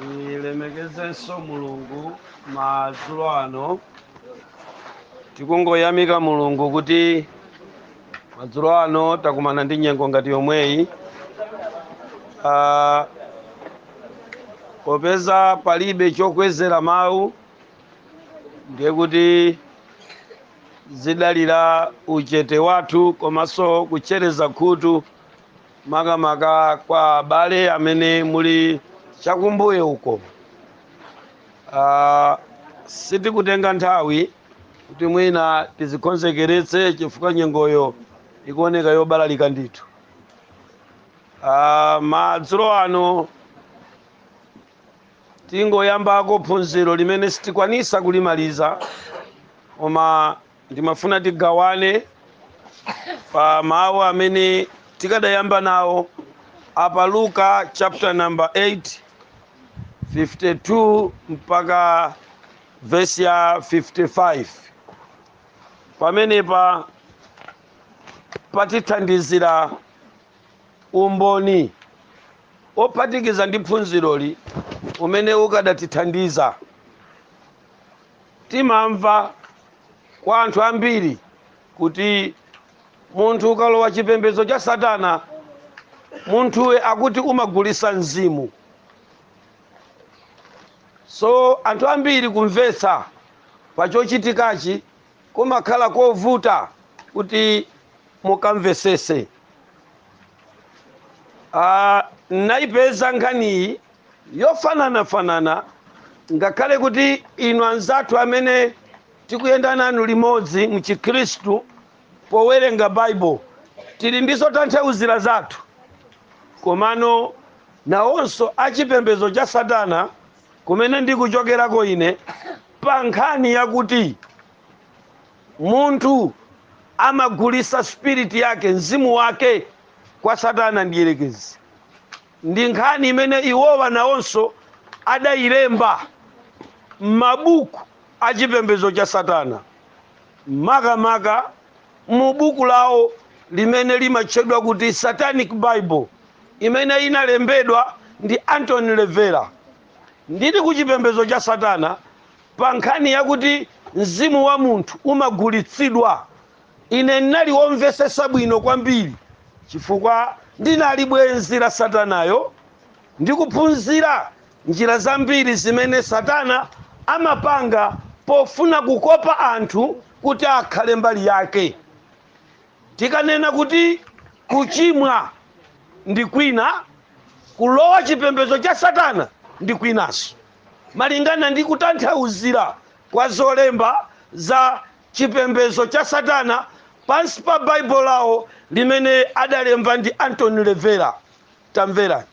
tilemekezenso mulungu madzulo ano tikungoyamika mulungu kuti madzulo ano takumana ndi nyengo ngati yomweyi Ah, popeza palibe chokwezera mawu ndiye kuti zidalira uchete wathu komanso kutchereza khutu makamaka kwa abale amene muli chakumbuyo uko uh, sitikutenga nthawi kuti mwina tidzikonzekeretse chifukwa nyengoyo ikuoneka yobalalika ndithu uh, madzulo ano tingoyambako phunziro limene sitikwanisa kulimaliza koma ndimafuna tigawane pa mawu amene tikadayamba nawo apa luka chapter number 8 52 mpaka vesi ya 55 pamenepa patithandizira umboni wophatikiza ndi phunziroli umene ukadatithandiza Timamva kwa anthu ambiri kuti munthu ukalowa chipembedzo cha Satana, munthuwe akuti umagulisa mzimu. So anthu ambiri kumvetsa pa chochitikachi Kumakhala kovuta kuti munthu amvetsetse. a Ndinaipeza nkhaniyi yofanana-fanana ngakhale kuti inu anzathu amene tikuyenda nanu limodzi m'chikhristu powerenga Baibulo tili ndi zotanthauzira zathu. Komano, nawonso a chipembedzo cha Satana kumene ndikuchokerako ine pa nkhani yakuti munthu amagulisa spirit yake mzimu wake kwa satana mdierekezi ndi nkhani imene iwowa nawonso adayilemba m'mabuku a chipembedzo cha satana makamaka mu buku lawo limene limatchedwa kuti satanic bible imene inalembedwa ndi Anton LaVey, ndili ku chipembedzo cha Satana pa nkhani yakuti mzimu wa munthu umagulitsidwa, ine ndinali womvetsetsa bwino kwambiri chifukwa ndinali bwenzi la Satanayo ndi kuphunzira njira zambiri zimene Satana amapanga pofuna kukopa anthu kuti akhale mbali yake. Tikanena kuti kuchimwa ndi kwina, kulowa chipembedzo cha Satana ndi kwinanso, malingana ndi kutanthauzira kwa zolemba za chipembedzo cha Satana pansi pa Bible lawo limene adalemba ndi Anton LaVey. Tamverani.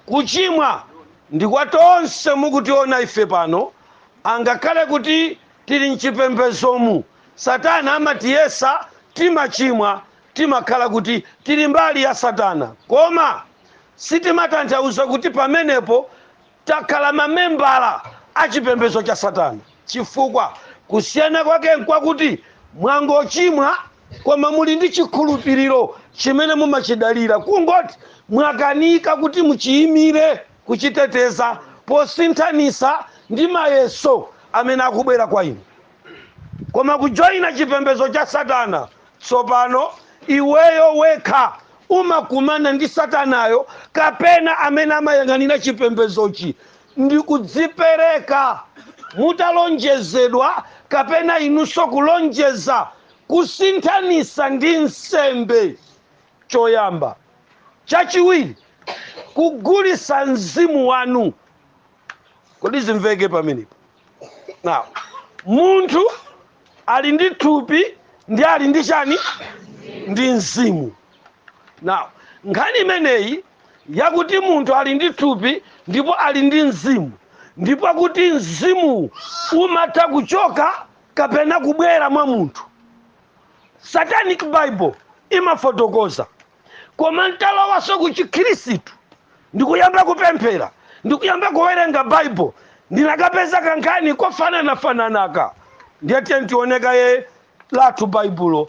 Kuchimwa ndi kwa tonse mukutiona ife pano angakhale kuti tili mchipembedzomu satana amatiyesa timachimwa timakhala kuti tili mbali ya satana koma sitimatanthauza kuti pamenepo takhala mamembala a chipembedzo cha satana. Chifukwa, kusiyana kwake nkwakuti, mwangochimwa, koma muli ndi chikhulupiriro chimene mumachidalira, kungoti mwakanika kuti muchiimire, kuchiteteza posinthanitsa ndi mayeso amene akubwera kwa inu. Koma kujoina chipembedzo cha Satana, tsopano, iweyo wekha umakumana ndi Satanayo, kapena amene amayang'anira chipembedzochi. ndikudzipereka mutalonjezedwa kapena inunso kulonjeza kusinthanisa ndi nsembe choyamba. Chachiwiri, kugulisa mzimu wanu. Kodi zimveke pamenepa? Now, munthu ali ndi thupi ndi ali ndi chani? Ndi mzimu. Now, nkhani imeneyi yakuti munthu ali ndi thupi ndipo ali ndi mzimu ndipo kuti mzimuwu umatha kuchoka kapena kubwera mwa munthu satanic bible imafotokoza koma ntalowanso ku chikhristu ndikuyamba kupemphera ndikuyamba kuwerenga bible ndinakapeza kankhani kofananafananaka ndiye tiyeni tione kaye lathu baibulo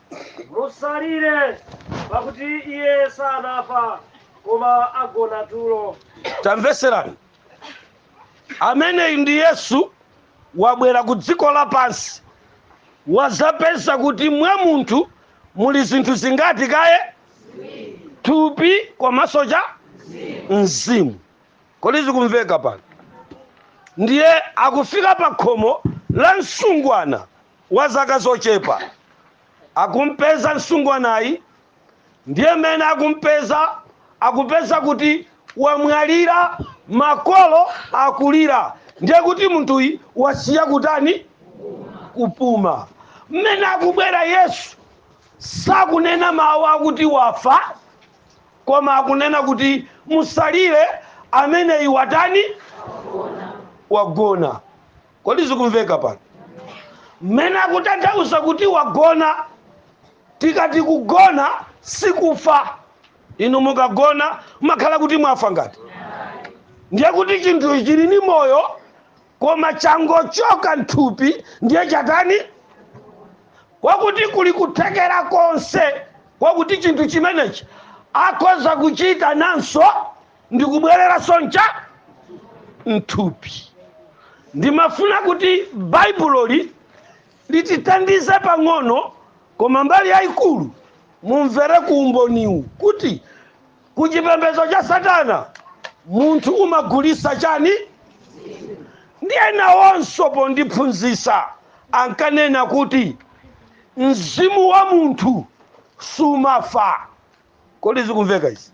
Musalire, pakuti iye sanafa, koma agona tulo. tamvetserani ameneyi ndi yesu wabwera ku dziko lapansi wazapeza kuti mwa munthu muli zinthu zingati kaye thupi komanso cha mzimu kodi zikumveka pano ndiye akufika pa khomo la msungwana wa zaka zochepa akumpeza msungwanayi ndiye mmene akumpeza akupeza kuti wamwalira makolo akulira ndiye kuti munthuyi wasiya kutani kupuma mmene akubwera yesu sakunena mawu akuti wafa koma akunena kuti musalire ameneyi watani wagona kodi zikumveka pano mmene akutanthauza kuti wagona tikati kugona sikufa inu mukagona mumakhala kuti mwafa ngati ndiye kuti chinthu chili ni moyo koma changochoka mthupi ndiye chatani kwakuti kuli kuthekera konse kwakuti chinthu chimenechi akhoza kuchita nanso ndikubwereranso mthupi ndimafuna kuti baibuloli litithandize pang'ono koma mbali yayikulu mumvere ku umboniwu kuti ku chipembedzo cha satana munthu umagulisa chani ndiye nawonso pondiphunzisa ankanena kuti mzimu wa munthu sumafa kodi zikumveka izi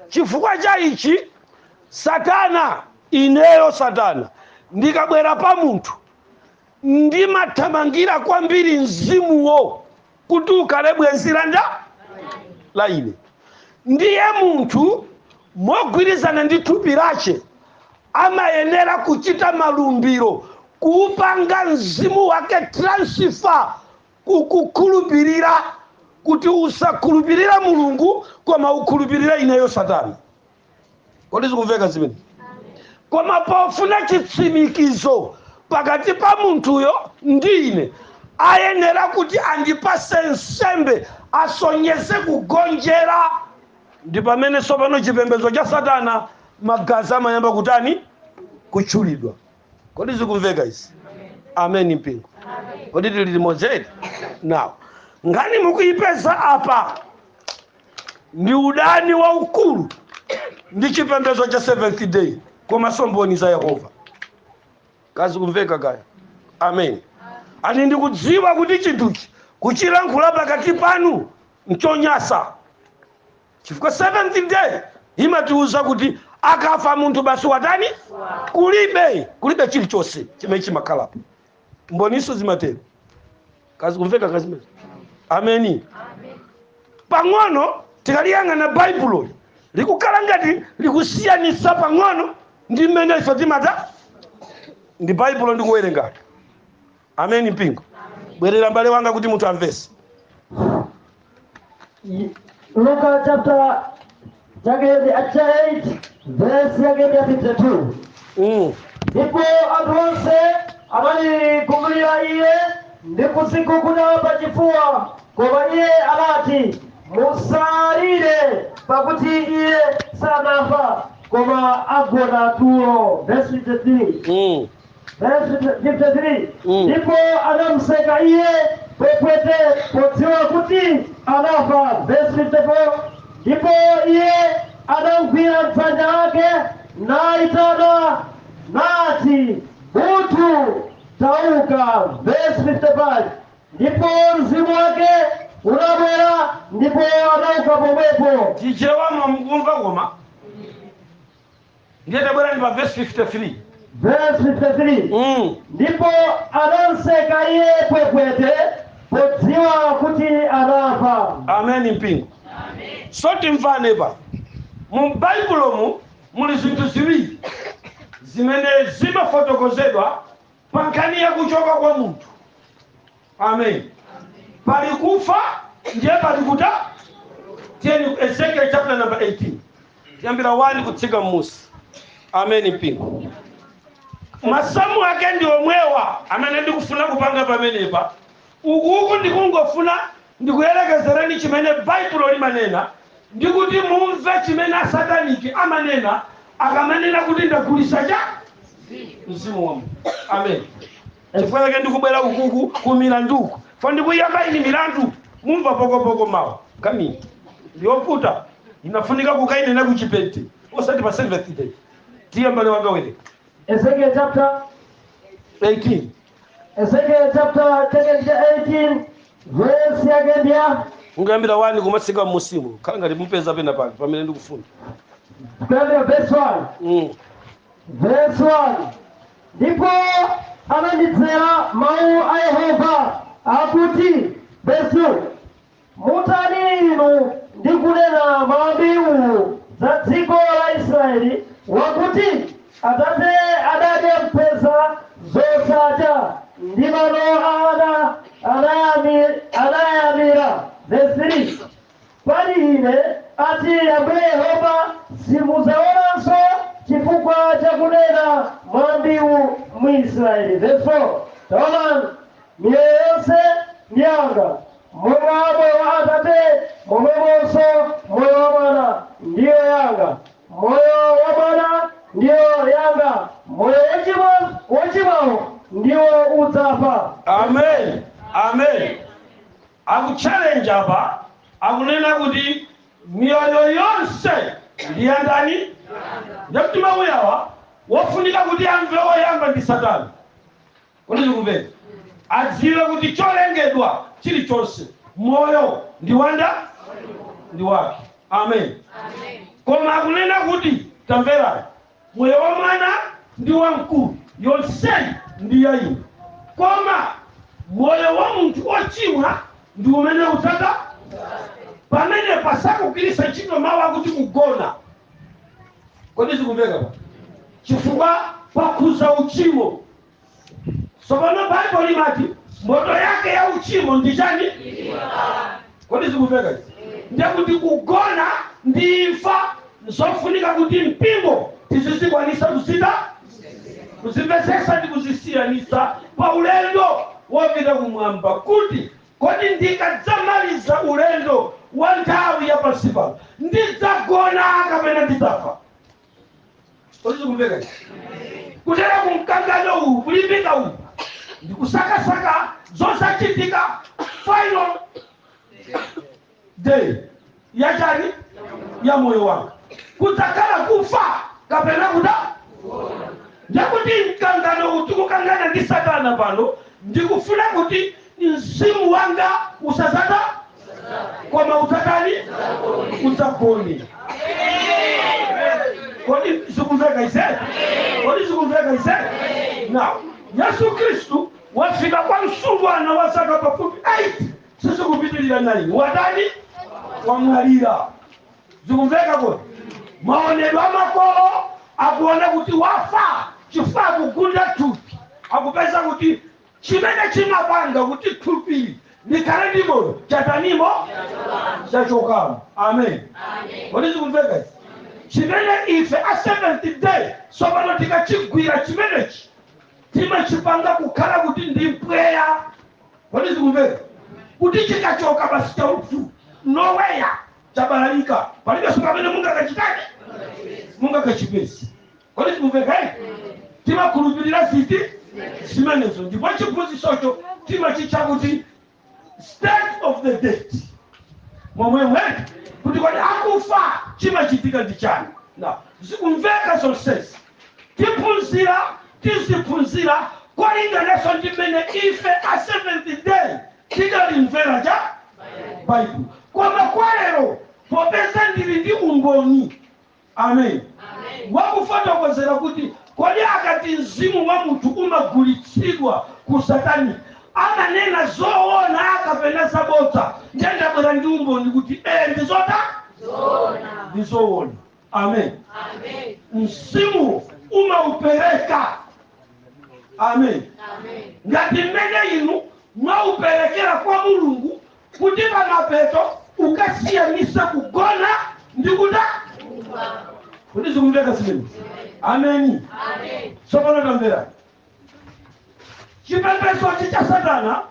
chifukwa cha ichi satana ineyo satana ndikabwera pa munthu ndimathamangira kwambiri mzimuwo kuti ukhale m'dzanja la ine ndiye munthu mogwirizana ndi thupi lache amayenera kuchita malumbiro kuupanga mzimu wake transfer kukukhulupirira kuti usakhulupirira mulungu koma ukhulupirire ineyo satana kodi zikumveka zimene koma pofuna chitsimikizo pakati pa munthuyo ndi ine ayenera kuti andipase nsembe asonyeze kugonjera ndi pamene tsopano chipembedzo cha satana magazi amayamba kutani kutchulidwa kodi zikumveka izi ameni mpingo kodi tili limodzidi nawo nkhani mukuyipeza apa ndi udani waukulu ndi chipembedzo cha seventh day komanso mboni za yehova kaya zikumveka kaya amen ani ndikudziwa kuti chinthuchi kuchilankhula pakati panu nchonyansa Chifukwa Seventh Day imatiuza kuti akafa munthu basi watani? Kulibe, kulibe chilichonse chimene chimakhalapo. Mboninso zimatero. Kaya zikumveka kaya zimenezi. Ameni. Pano tikaliyang'ana Baibulo likukhala ngati likusiyanitsa pang'ono ndi mmene ife timatani Baibulo ndikuwerengali. ameni mpingo bwerera mbale wanga kuti munthu amvese Luka chapter chake ndi cha 8 verse yake ndi 52 mm. ndipo anthu onse anali kumlira iye ndi kudziguguda pa chifuwa koma iye anati musalire pakuti iye sanafa koma agona tulo verse 53 Mm. Verse 53 Mm. ndipo anamuseka iye pwepwete podziwa kuti anafa verse 54 ndipo iye anamgwira dzanja lake naitana, nati buthu tauka verse 55 ndipo mzimu wake unabwera ndipo anauka pomwepo chichewa mwamukumva koma ndiye tabwerani pa vesi 53 Verse 53. mm. ndipo adamseka iye pwepwete podziwa kuti anafa ameni mpingo so timvane apa mu baibulomu muli zinthu ziwiri zimene zimafotokozedwa pa nkhani ya kuchoka kwa munthu amen pali kufa ndiye pali kuta tiyeni ezekiel chapter number 18 tiyambira 1 kutsika mmusi ameni mpingo masamu ake ndi omwewa amene ndikufuna kupanga pamenepa ukuku ndikungofuna ndikuyerekezereni chimene baibulo limanena ndi kuti mumve chimene asataniki amanena akamanena kuti ndagulitsa mzimu wanga. amen chifukwa chake ndikubwera ukuku ku milanduku fo ndikuyamba ini milandu mumva pokopoko mawa kami yovuta inafunika kukainena kuchipenti osati pa seventh day tiye mbale wanga werenga Ezekiel chapter 18 Ezekiel chapter chake cha 18 verse yake ndi ya ungoyambira wani kumatsika mmusi mukhala ngati mupeza pena pake pamene ndikufuna kuyambira verse 1 mm. verse 1 Ndipo anandidzera mau a Yehova, akuti, Vesi 2, mutani inu ndi kunena mwambi uwu za dziko la Israyeli, wakuti, Atate adadya mphesa zosacha, ndi mano a ana anayami- anayamira. Vesi 3 Pali Ine, ati Ambuye Yehova, simudzaonanso cifukwa ca kunena mwambiwu m'Israyeli. Vesi 4, Taonani, miyoyo yonse ndi yanga, monga moyo wa atate momwemonso moyo wa mwana ndiyo yanga, moyo wa mwana ndiyo yanga, moyo wocimwa, wocimwawo ndiwo udzafa. Amen. Amen. Akuchalenja apa akunena kuti miyoyo yonse ndi yandani? Ndiye kuti mau awawa wofunika kuti amve woyamba ndi satana kodi zikumveka? Adziwe kuti cholengedwa chili chonse moyo ndi wanda? Ndi wake amen koma akunena kuti tamverani Moyo wa mwana ndi wamkulu, yonseyi ndi ya inu. Koma moyo wa munthu ochimwa ndi umene udzata pamenepa sakugwiritsa ntchito mawu akuti kugona. Kodi zikumveka pa? Chifukwa pakhudza uchimo. tsopano baibulo limati mphotho yake ya uchimo ndi chani kodi zikumveka izi ndiye kuti kugona ndi imfa nzofunika kuti mpingo tizizikwanisa kuzita kuzimvetsetsa ndi kuzisiyanisa pa ulendo wopita kumwamba kuti kodi ndikadzamaliza ulendo wa nthawi ya pansi pano ndidzagona kapena ndidzafa kodi zikumveka izi kuteroko mkangano uwu kulimbika uwu ndi kusakasaka zodzachitika final day yachani ya moyo wanga kudzakhala kufa kapena kuta ndekuti mkanganowu ndi kukangana ndi satana pano ndikufuna kuti Mzimu wanga usadzatha, koma udzatani? Udzagone. Kodi zikumveka izi? Kodi zikumveka izi? Now, Yesu Kristu wafika kwa msungwana wa zaka pafupi 8 sizikupitirira 9 watani wamwalira zikumveka kodi maonedwe a makolo akuona kuti wafa chifukwa akugunda thupi akupeza kuti Chimene chimapanga kuti thupi likhale ndi moyo chatanimo? Chachokamo. Amen. Kodi zikumveka izi? Chimene ife a Seventh Day tsopano tikachigwira chimenechi timachipanga kukhala kuti ndi mpweya. Kodi zikumveka? Kuti chikachoka basi chauthu nowhere chabalalika, palibenso pamene mungakachita mungakachipeze. kodi zikumveka ife timakhulupirira ziti zimenezo ndipo chiphunzitsocho timachitcha kuti state of the dead momwemwe kuti kodi akufa chimachitika ndi chani na zikumveka zonsezi tiphunzira tiziphunzira kulingananso ndi mmene ife a seventh day tidalimvera cha baibulo koma kwa lero popeza ndili ndi umboni Amen. Wa kufotokozera kuti kodi akati mzimu wa munthu umagulitsidwa ku satanic amanena zoona kapena zabodza, ndiye ndabwera ndi umboni kuti ee ndi zota? Ndi zoona. Amen. Mzimuwo umaupereka. Amen. Ngati mmene inu mwauperekera kwa Mulungu kuti pamapeto ukasiyanisa kugona ndi kufa kodi zikumveka zimene ameni tsopano tamverani chipembezochi cha satana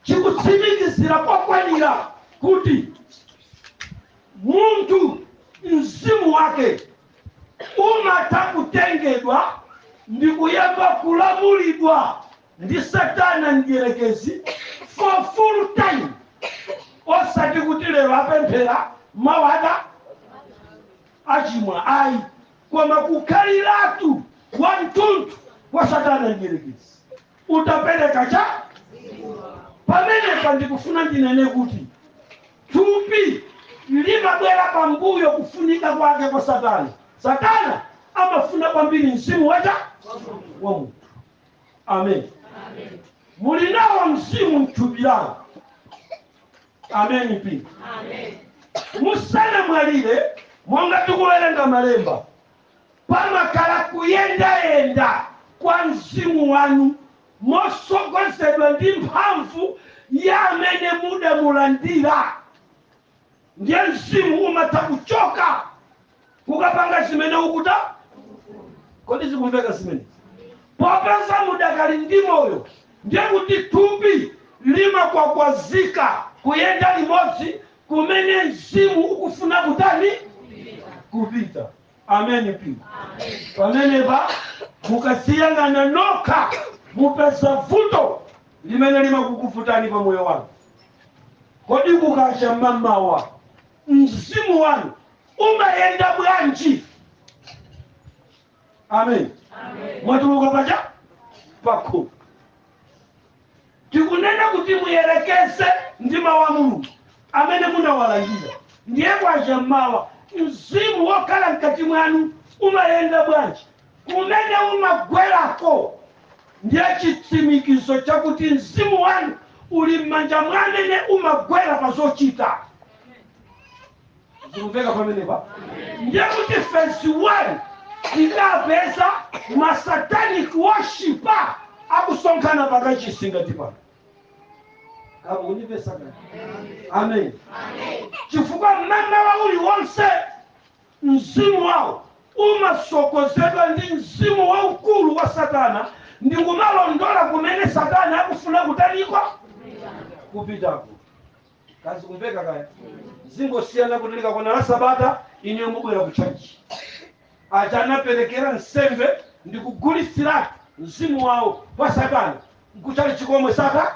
chikutsimikizira kwakwanira kuti munthu mzimu wake umatha kutengedwa ndi kuyamba kulamulidwa ndi satana mdyerekezi for full time osati kuti lero apemphera mawa achimwa ayi koma kukhaliratu wa mtundu wa satana mdyerekezi utaperekedwa pamenepa ndikufuna ndinene kuti thupi limabwera pambuyo kufunika kwake kwa satana satana amafuna kwambiri mzimu wacha wa munthu amen muli nawo mzimu mthupi lanu ameni mpingo musanamwalire monga tikuwerenga malemba pamakhala kuyendayenda kwa mzimu wanu motsogozedwa ndi mphamvu ya amene mudamulandira ndiye mzimu umatha kuchoka kukapanga zimene ukufuna kodi zikumveka zimene popeza mudakali ndi moyo ndiye kuti thupi limakwakwazika kuyenda limodzi kumene mzimu ukufuna kutani kupita ameni mpingo pamenepa mukaziyang'ana nokha mupeza vuto limene limakukuvutani pa moyo wanu Kodi kukacha mamawa mzimu wanu umayenda bwanji? Amen. Mwatuluka paja pakhomo tikunena kuti muyerekeze ndi mawu a Mulungu amene munawalandira, ndiye kwacha mmawa mzimu wokhala mkati mwanu umayenda bwanji? kumene umagwerako ndiye chitsimikizo chakuti mzimu wanu uli m'manja mwa amene umagwera pa zochita zikumveka pamenepa ndiye kuti vesi 1 tikapeza masatanic worshiper akusonkhana pakachisi ngati pano kama unipesa kani amen chifukwa mmamawa uliwonse Mzimu wawo umatsogozedwa ndi mzimu waukulu wa Satana ndi kumalondola kumene Satana akufuna kutani? kupitako. Kaya zikumveka kaya? Zingosiyana kuti likakwana la Sabata inuyo mubwera ku tchalitchi. Aja anaperekera nsembe ndi kugulitsiratu mzimu wawo kwa Satana. Ku tchalitchi komwe sata?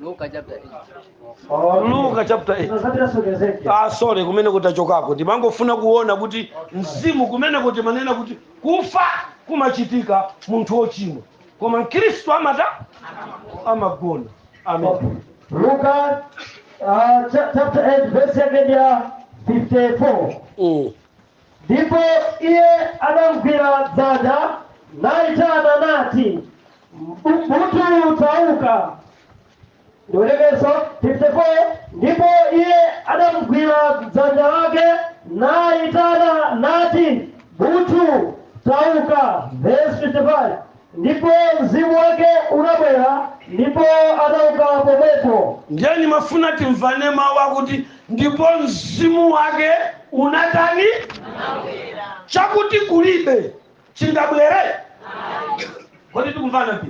Luka chapter 8. luka chapter 8 Tunazapitanso Ezekiel. ah sorry kumene kukuchokako ndimangofuna kuona kuti mzimu kumeneko timanena kuti kufa kumachitika munthu wochimwa koma mkhristu amata amagona amen Luka uh, cha- chapter 8 verse yake ya 54. mm. Ndipo iye adamgwira dzanja lake, naitana, nati, "Bu- Buthu, tauka. Ndiwerengenso 54 ndipo iye adamgwira dzanja lake naitana nati buthu tauka verse 55 Ndipo mzimu wake unabwera ndipo anauka pomwepo. Ndiye ndimafuna timvane mawu akuti ndipo mzimu wake unatani? Chakuti kulibe chingabwere? Kodi tikumvana apa?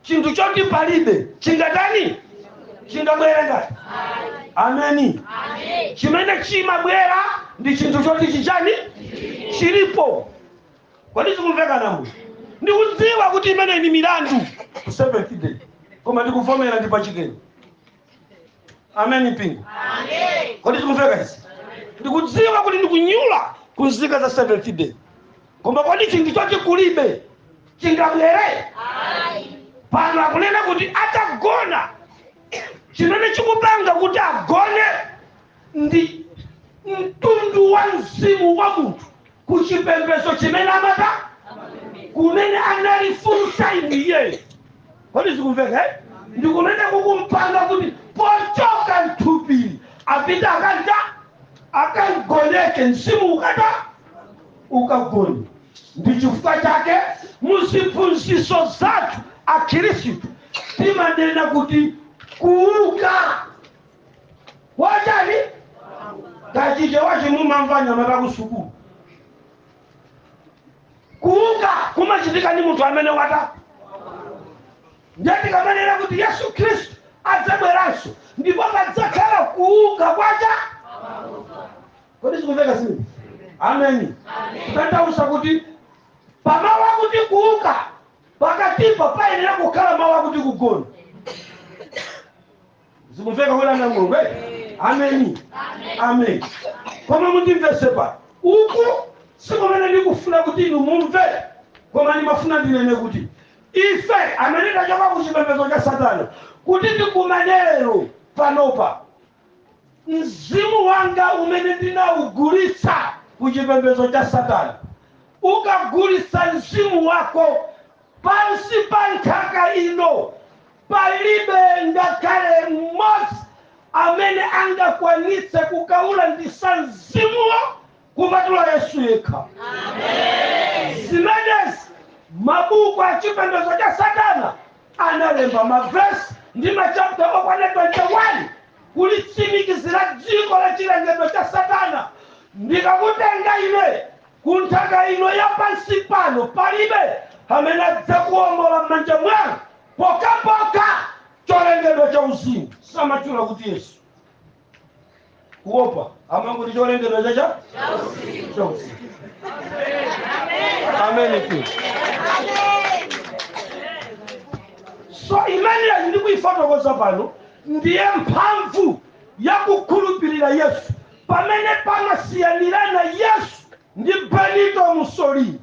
Chinthu choti palibe chingatani? Chingabwere nanga? Ameni. Chimene chimabwera ndi chinthu choti chichani? Chilipo. kodi zikumveka amayi ndikudziwa kuti imeneyi ndi milandu ku seventh day koma ndikuvomera ndi pachikeni ameni mpingo kodi zikumveka izi ndikudziwa kuti ndikunyula ku nzika za seventh day koma kodi chinthu choti kulibe chingabwere pano akunena kuti atagona chimene chikupanga kuti agone ndi mtundu wa mzimu wa munthu ku chipembedzo chimene amata kumene anali full time iyeyo kodi zikumveka eh? ndi kumene kukumpanga kuti pochoka mthupili apita akanta akagoneke mzimu ukata ukagone ndi chifukwa chake mu ziphunzitso zathu akhristu timanena kuti kuuka kwa chani kachite wache mumamva nyama takusukulu kuuka kumachitika ndi munthu amene wata nde tikamanena kuti yesu khristu adzabweranso ndipo padzakhala kuuka kwacha kodi zikumveka izi ameni kutanthauza kuti pamawu akuti kuuka pakatipa payenera kukhala mawu akuti kugona zikumveka kuti ana mulungu eh? ameni ameni koma mundimvetse apa uku sikumene ndikufuna kuti inu mumve koma ndimafuna ndinene kuti ife amene tachoka ku chipembedzo cha satana kuti tikumane panopa mzimu wanga umene ndinaugulitsa ku chipembedzo cha satana ukagulitsa mzimu wako pansi pa nthaka ino Palibe ngakhale mmodzi amene angakwanitse kukaulanditsa mzimuwo kupatula Yesu yekha. Zimenezi mabuku a chipembedzo cha Satana analemba mavesi ndi machapta okwana 21 kulitsimikizira dziko la chilengedwe cha Satana. Ndikakutenga ine ku nthaka ino ya pansi pano, palibe amene adzakuwombola m'manja mwanga. Pokhapokha cholengedwa chauzimu samatchula kuti Yesu. Kuopa amangoti cholengedwa chauzimu. Amenitu. So imeneyi ndikuifotokoza pano ndiye mphamvu ya kukhulupirira Yesu pamene pamasiyanirana Yesu ndi Benito Mussolini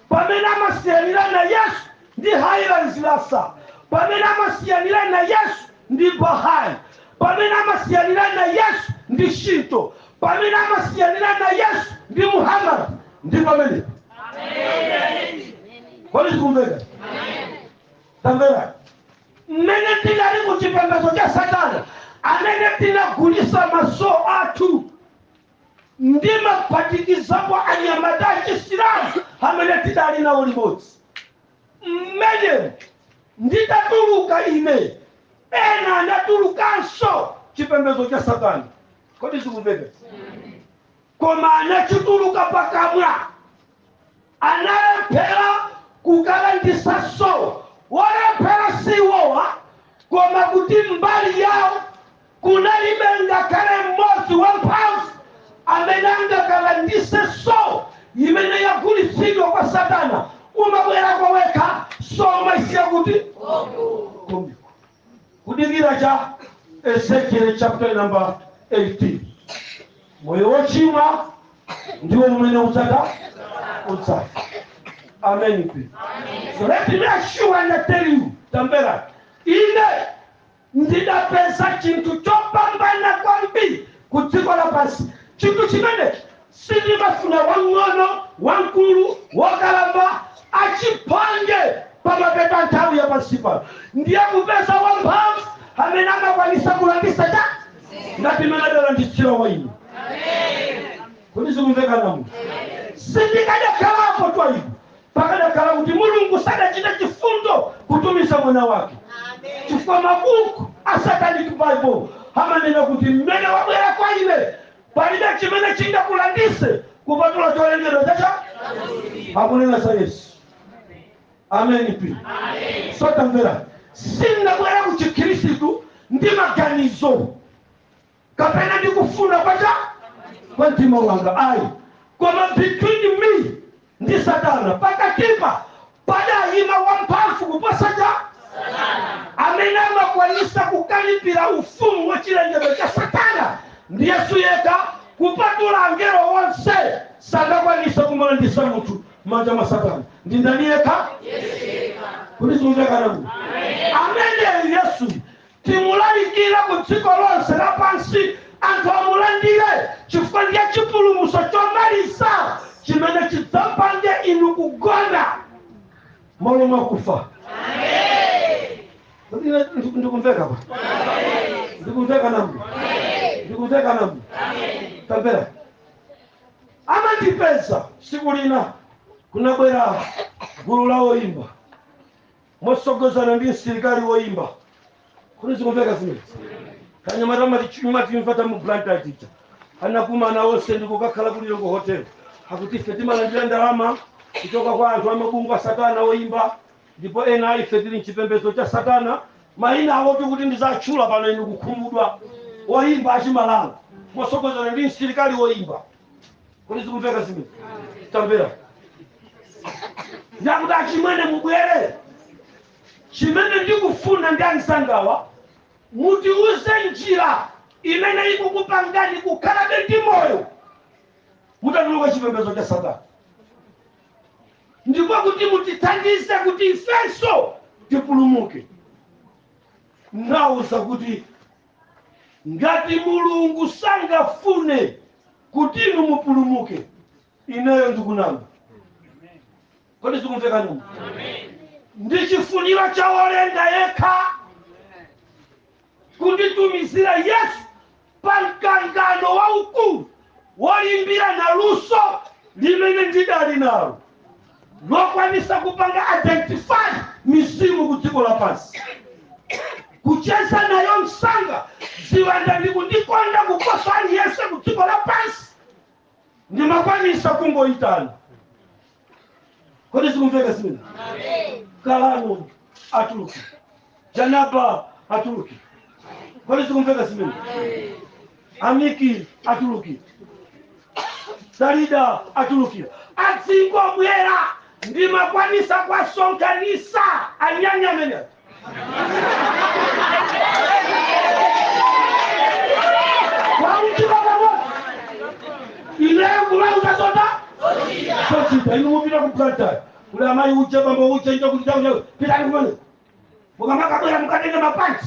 pamene amasiyanirana yesu ndi haile selassie pamene amasiyanirana yesu ndi bahai pamene amasiyanirana yesu ndi shinto pamene amasiyanirana yesu ndi muhammad ndi pamene kodi zikumveka tamvera mmene tinali ku chipembedzo cha satana amene tinagulisa maso athu ndikuphatikizapo anyamata achisilamu amene tidali nawo limodzi mmenemu nditatuluka ine ena anatulukanso chipembedzo cha satana kodi zikumveka koma anachituluka pakamwa analephera kukalandisa so wolephera siwoyipa koma kuti mbali yawo kunalibe ngakhale mmodzi wamphamvu amene angakalandise so imene yagulitsidwa kwa satana umabwera kwa ine wekha so umaisiya kuti komiko kudikira cha Ezekiel chapter number 18 moyo wochimwa ndiwo umene udzafa amen mpingo so let me assure and tell you tamvera ine ndidapeza chinthu chopambana kwambiri ku dziko lapansi chinthu chimenechi Sindimafuna wamng'ono, wamkulu, wokalamba, achiphongwe, pa mapeto a nthawi ya pansi pano, ndiye kupeza wamphamvu amene amakwanitsa kulanditsa cha ngati mmene adalanditsira wa ine. Kodi zikumveka? Sindikadakhalapo kwa inu pakadakhala kuti Mulungu sadachita chifundo kutumiza mwana wake, chifukwa mabuku a Satanic Bible amanena kuti mmene wabwera kwa ine Palibe chimene chingakulanditse kupatula cholengedwa chake akunena za Yesu. Ameni. So tamvera, sindabwera ku Chikhristu ndi maganizo kapena ndi kufuna chabe kwa mtima wanga ayi, koma between me ndi satana pakatipa padayima wamphamvu kuposa amene amakwanitsa kukalipira ufumu wa chilengedwe cha satana ndi yesu yekha kupatula angelo onse sangakwanitse kumulanditsa munthu mmanja mwa satana ndi ndani yekha kodi zikumveka amene yesu timulalikire ku dziko lonse lapansi anthu amulandire chifukwa ndiye chipulumutso chomaliza chimene chidzapange inu kugona malo mwakufa Kodi ine ndiku- ndikumveka pa ndikumveka namwe ndikumveka namwe kapena amandipeza siku lina kunabwera gulu la oyimba motsogozana ndi msilikali woyimba kodi zikumveka zimenezi anyamata matichumwatimva ta mu blantyre tija anakumana onse ndikukakhala ku Lilongwe hotel akuti ife timalandira ndalama kuchoka kwa anthu amabungwe a satana oyimba ndipo ena a ife tili mchipembedzo cha satana mayina awo oti nditatchula pano inu kukhumudwa oyimba achimalawi motsogozana ndi msilikali woyimba kodi zikumveka zimene tamvera ndakuti achimwene mubwere chimene ndikufuna ndi anzangawa mutiuze njira imene ikukupangani kukhalabe ndi moyo mutatuluka chipembedzo cha satana ndipo kuti mutithandize kuti ifenso tipulumuke ndawauza kuti ngati mulungu sangafune kuti inu mupulumuke ineyo ndikunama kodi zikumveka noma ndi chifuniro cha wolenga yekha kunditumizira yesu pa mkangano waukulu wolimbirana luso limene ndinali nalo lokwanitsa kupanga identify mizimu ku dziko lapansi kucheza nayo msanga ziwanda ndikundikonda kuposa aliyense ku dziko lapansi ndimakwanitsa kungoyitana kodi zikumveka zimene kalano atuluki janaba atuluki kodi zikumveka zimene amiki atulukira salida atulukira adzingobwera ndimakwanisa kwasonkhanisa anyanya amene onse pamodzi ineyo kumawauza zoti azichita inu mupita kuplantai kuli amayi uje bambo uje uje kuti chakudya pitani kumene mukamakabwera mukatenge mapanti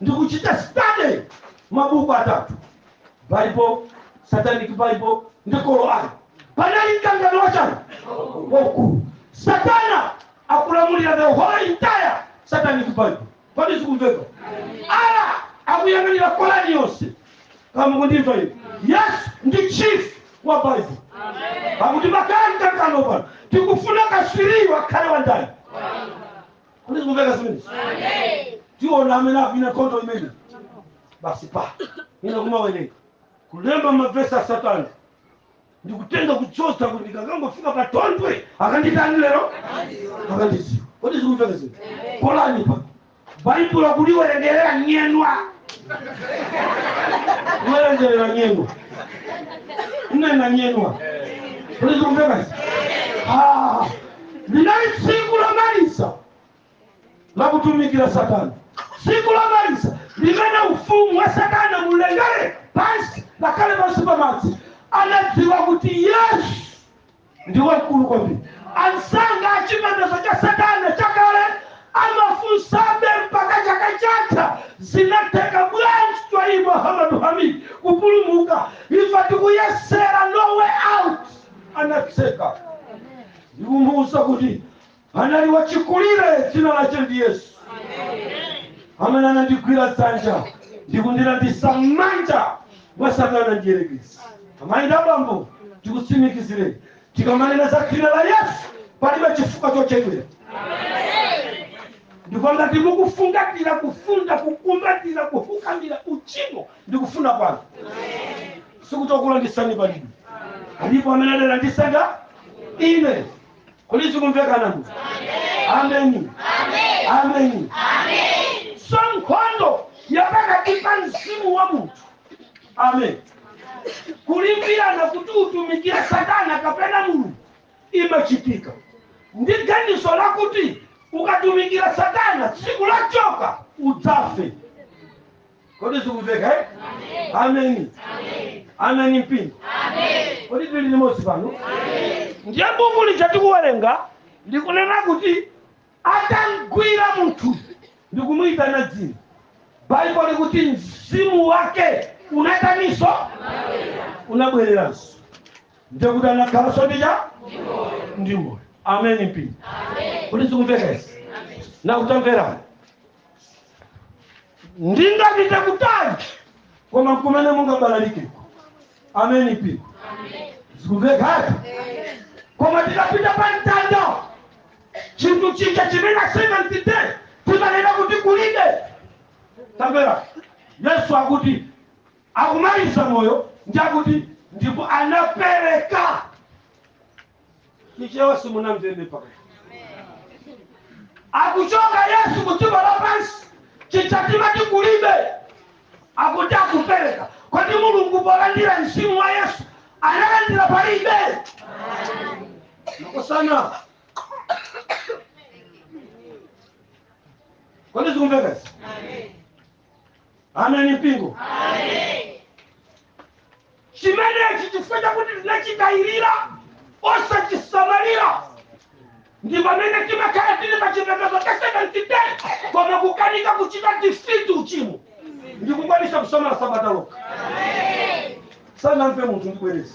ndikuchita study mabuku atatu bible satanic bible ndi korani pali mkangano wachani waukulu satana akulamulira the whole entire satanic bible kodi zikumveka ala akuyang'anira korani yonse kaya mukundimva iyo yesu ndi chief wa bible pakuti pali mkangano pano tikufuna katswiri akhale wa ndani kodi zikumveka zimenezi tiona amene akuwina nkhondo imene basi pano ine kumawerenga kulemba mavesi a satana ndikutenga kutsotsa kuti ndikangangofika pa thondwe akandiitane lero akandidziwa kodi zikumveka zinthu polani pa baibulo kuliwerengera nyemwa kuwerengera nyemwa ndinena nyemwa kodi zikumveka zinthu linali tsiku lomaliza la kutumikira satana tsiku lomaliza limene ufumu wa satana mlengalenga pansi ngakhale pansi pa madzi unadziwa kuti yesu ndi wamkulu kwambiri anzanga a chipembedzo cha satana chakale amafunsabe mpaka chaka chatha zinatheka bwanji kwa muhamadu hamidi kupulumuka ife tikuyesera no way out anatseka ndikumuuza kuti anali wachikulire dzina lache ndi yesu amene anandigwira dzanja ndikundilandisa m'manja mwa satana mdierekezi amayi ndi abambo ndikutsimikizireni tikamanena za dzina la yesu palibe chifukwa chochedwera ndipo ngati mukufungatira kufunda kukumbatira kufukamira uchimo ndikufuna pano sikuti okulandisani palibe alipo amene adalanditsa nga ine kodi zikumveka inu ameni ameni so nkhondo yapakati pa mzimu wa munthu amen kulimbirana kuti atumikire satana kapena mulungu imachitika ndi ganizo lakuti ukatumikira satana tsiku lochoka udzafa Kodi zikumveka eh? Ameni. Ameni mpingo. Kodi tili limodzi pano? Ndiye buku lija tikuwerenga likunena kuti atamgwira munthu ndi kumuyitana dzina. Baibulo likuti mzimu wake unataniso unabwereranso. Ndiye kuti anakhalanso ndi cha ndi moyo. Ameni mpingo. Kodi zikumveka izi? Na kutamverani. ndingapite kutali koma kumene mungabalalikeko ameni mpingo zikumveka eti koma tikapita pa mtanda chinthu chija chimene a seventh day timanena kuti kulibe tamvera yesu akuti akumaliza moyo ndi akuti ndipo anapereka chichewa simunamvebe mpaka akuchoka yesu kudziko lapansi chija timati kulibe akuti akupereka kodi mulungu polandira mzimu wa yesu analandira palibe makosana kodi zikumveka izi ameni mpingo chimenechi chifukwa chakuti tinachitayirira osachisamalira ndi pamene timakhala tili pa chipembedzo cha seventh day koma kukanika kuchita defeat uchimo ndikukwanisa kusamala sabata lokha sanamve munthu ndibwereza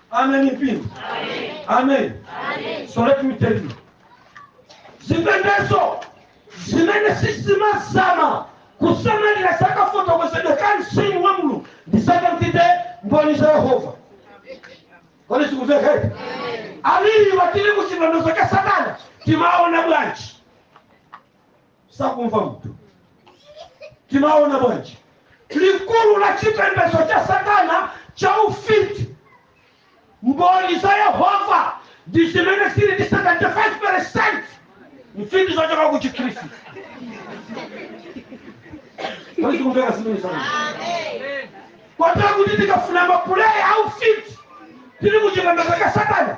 Amen, mpingo. Amen. So let me tell you. Zipembedzo zimene sizimazama kusamalira za kafotokozedwe ka mzimu wa mulungu ndi seventh day mboni za yehova kodi zikumveka awiriwa tili ku chipembedzo cha satana timaona bwanji sakumva munthu timaona bwanji likulu la chipembedzo cha satana cha ufiti mboni za yehova ndi zimene zili ndi 75 percent mfiti zochoka ku chikhristu kodi zikumveka zimene zaa kwatera kuti tikafuna mapuleya aufiti tili kuchipembedzo cha satana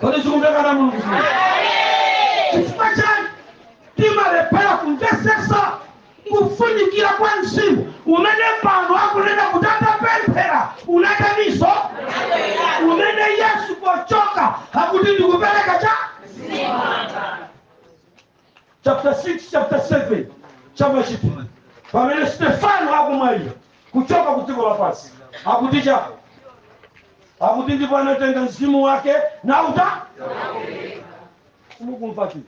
kodi zikumveka ana a mulungu zimene chifukwa chani timalephera kumvetsetsa kufunikira kwa mzimu umene pano akunena kuti atapemphera unataniso umene yesu pochoka akuti ndikupereka cha chapter 6 chapter 7 cha machitidwe pamene stefano akumwalira kuchoka kudziko lapansi akuti chako akuti ndipo anatenga mzimu wake nauta simukumva chani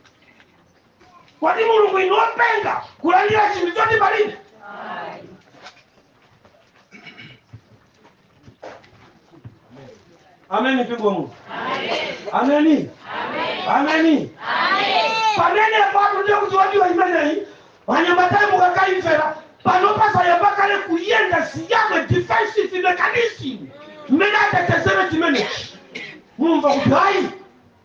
kodi mulungu inu wopenga kulandira chinthu choti palibe ameni mpingo mu ameni ameni pamene pano ndiye kuti wadiwa imeneyi wanyamatayi mukakaimvera pano pazayamba kale kuyenda siya mwe defensive mechanism mmene atetezere chimenechi mumve kuti hayi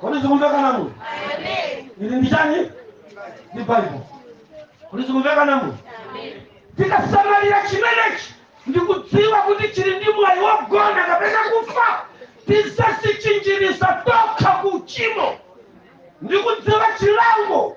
kodi zikumveka namu ili ndi chani ndi bible kodi zikumveka namu tikasamalira chimenechi ndi kudziwa kuti chili ndi mwayi wogona kapena kufa tizadzichinjiriza tokha ku uchimo ndi kudziwa chilango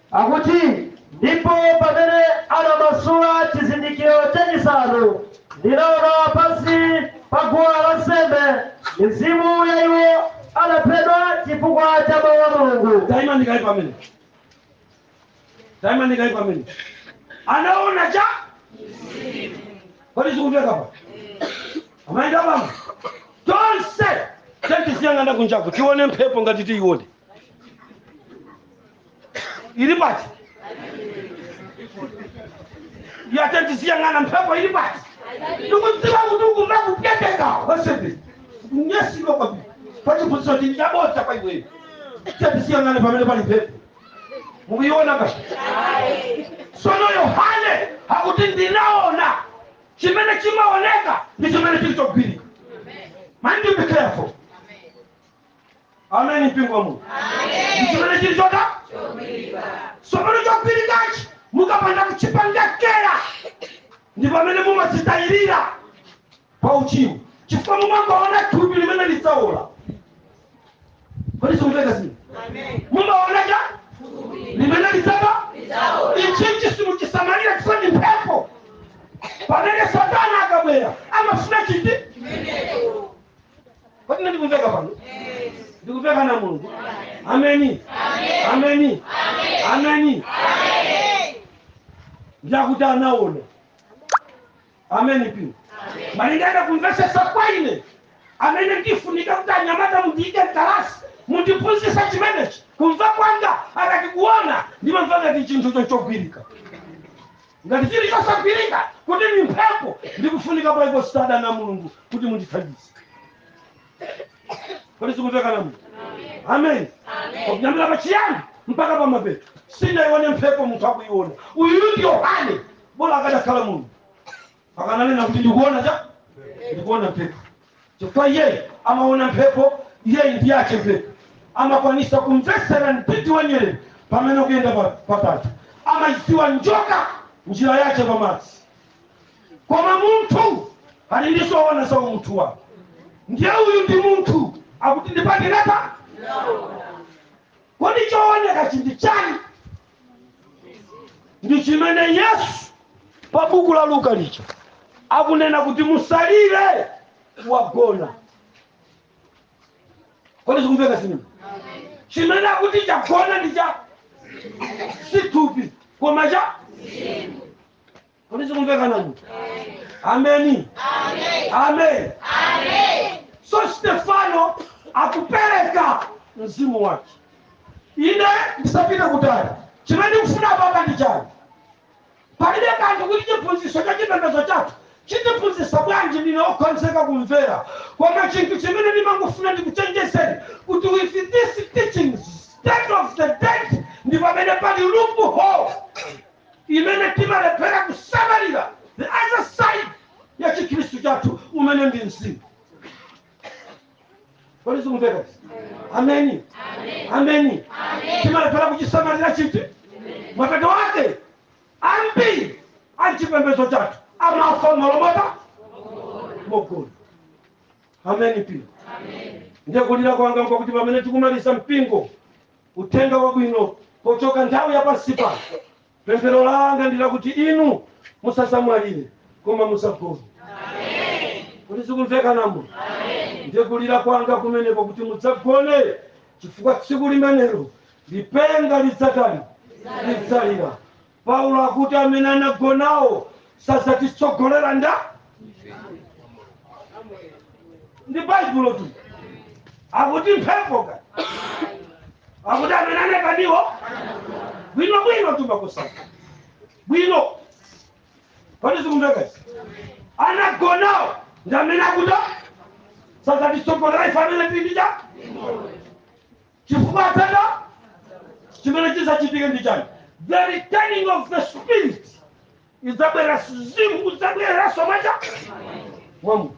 Akuti, Ndipo pamene anamasula chizindikiro chachisanu, ndinaona pansi pa guwa la nsembe mizimu ya iwo anaphedwa chifukwa cha mawu a Mulungu. taimani kaye pamene anaona chani kodi zikumveka apa amaenda pano tonse tatiyeni tiyang'ane kunjaku tione mphepo ngati tiione ili pati ya tatiyeni tiziyang'ana mphepo ili pati ndikudziwa kuti ukumba kuteteka wesebe kunyesidwa kwabiri pachiphunzitso chili chabodza kwa iweyo tatiyeni tiziyang'ana pamene pali mphepo mukuiona pa sono yohane akuti ndinaona chimene chimaoneka ndi chimene chili chogwirika mind you be careful ameni mpingo wa mulungu chimene chili chotani tsopano chogwirikachi mukapanda kuchipanga care ndi pamene mumazitayirira pa uchimo chifukwa mumangoona thupi limene lidzaola kodi zikumveka izi mumaona lija limene lidzafa ichichi simuchisamalira chifukwa ndi mphepo pamene satana akabwera amafuna chiti kodi ine ndikumveka pano ndikumveka na mulungu ameni ameni ameni ndiye akuti anaona ameni pino malingana kumvetsetsa kwa ine amene ndifunika kuti anyamata mundiike mkalasi mundiphunzitse chimenechi kumva kwanga akati kuona ndimamva ngati chinthu choti chogwirika ngati chili chosagwirika kuti ndi mphepo ndi kufunika kwa i consider na mulungu kuti mundithandize kodi zikumvekana mu amen kuyambira pa chiyambi mpaka pa mapeto sindinayione mphepo munthu akuyiona uyu ndi yohane bola akadakhala mulungu mpaka ananena kuti ndikuona cha ndikuona mphepo chifukwa iyeyi amaona mphepo iyeyi ndi yake mphepo amakwanisa kumvetsera mtsitsi wa nyerere pamene ukuyenda pa- patatu amayidziwa njoka njira yake pamadzi koma munthu ali ndi zoona za umunthu wake ndiye uyu ndi munthu akuti ndipangirana kodi chooneka ichi ndi chani ndi chimene yesu pa buku la luka lija akunena kuti musalire wagona kodi zikumveka zimene chimene akuti chagona ndi cha si thupi koma cha kodi zikumvekana mu ameni amen so stefano akupereka mzimu wake ine ndisapite kutali chimene ndikufuna apa ndi chani palibe kanthu kuti chiphunzitso cha chipembedzo chathu chitiphunzitsa bwanji ndine okhonzeka kumvera koma chinthu chimene ndimangofuna ndikuchenjezeni kuti with this teaching state of the dead ndi pamene pali loophole imene timalephera kusamalira the other side ya chikhristu chathu umene ndi mzimu kodi zikumveka izi? ameni ameni timalephera kuchisamalira chiti mapeto wake ambiri a chipembedzo chathu amafa mmalo moti mogona ameni ndiye kulira kwanga nkokuti pamene tikumaliza mpingo uthenga wabwino pochoka nthawi ya pansi pano. Pemphero langa ndi lakuti inu musasamwalire koma musagone. Kodi zikumvekanamo ndiye kulira kwanga kumeneko kuti mudzagone chifukwa tsiku limenelo lipenga lidzatani lidzalira Paulo akuti amene anagonawo sadzatitsogolera nda ndi baibulo tu akuti mphepo ka akuti amene anagonawo bwino bwino tu mukusaka bwino kodi zikumveka izi anagonawo ndi amene akuti sadzatitsogolera ife amene tili ndi cha chifukwa apa chimene chidzachitike ndi chani the returning of the spirit idzabwera mzimu udzabwereranso mwa munthu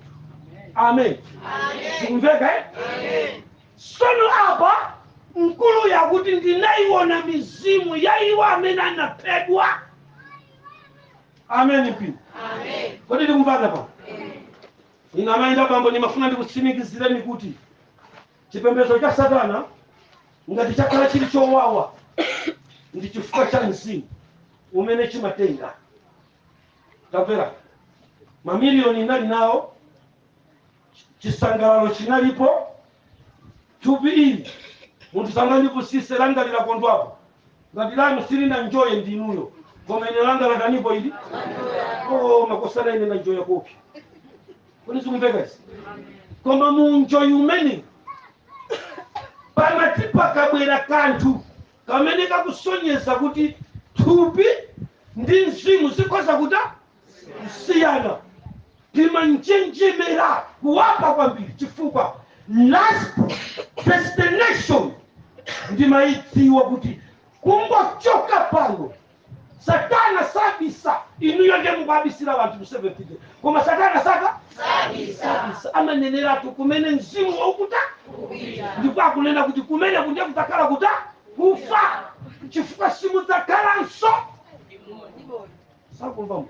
amen zikumveka eh? sono apa mkuluyu akuti ndinayiona mizimu ya iwo amene anaphedwa amen mpingo kodi tikumvana apa inu amayi ndi abambo ndimafuna ndikutsimikizireni kuti Chipembedzo cha Satana, ngati chakhala chili chowawa, ndi chifukwa cha mzimu umene chimatenga. Tamvera, mamiliyoni ndinali nawo, chisangalalo chinalipo, thupi ili munthu asangalipusitse langa linakondwapo, ngati lanu silinanjoye ndi inuyo koma ine langa lataniko ili oh, makosana ine nanjoya koopsa kodi zikumveka izi koma munjoyi umene pamati pakabwera kanthu kamene kakusonyeza kuti thupi ndi mzimu zikhoza kutani kusiyana timanjenjemera kuwopa kwambiri chifukwa last destination timayidziwa kuti kungochoka pano satana sabisa inuyo ndiye mukuwabisira anthu kuseventike koma satana sa sabisa amaneneratu kumene mzimu ukupita ndipo akunena kuti kumeneko kudzakhala kutani kufa chifukwa simudzakhalanso zikumveka amen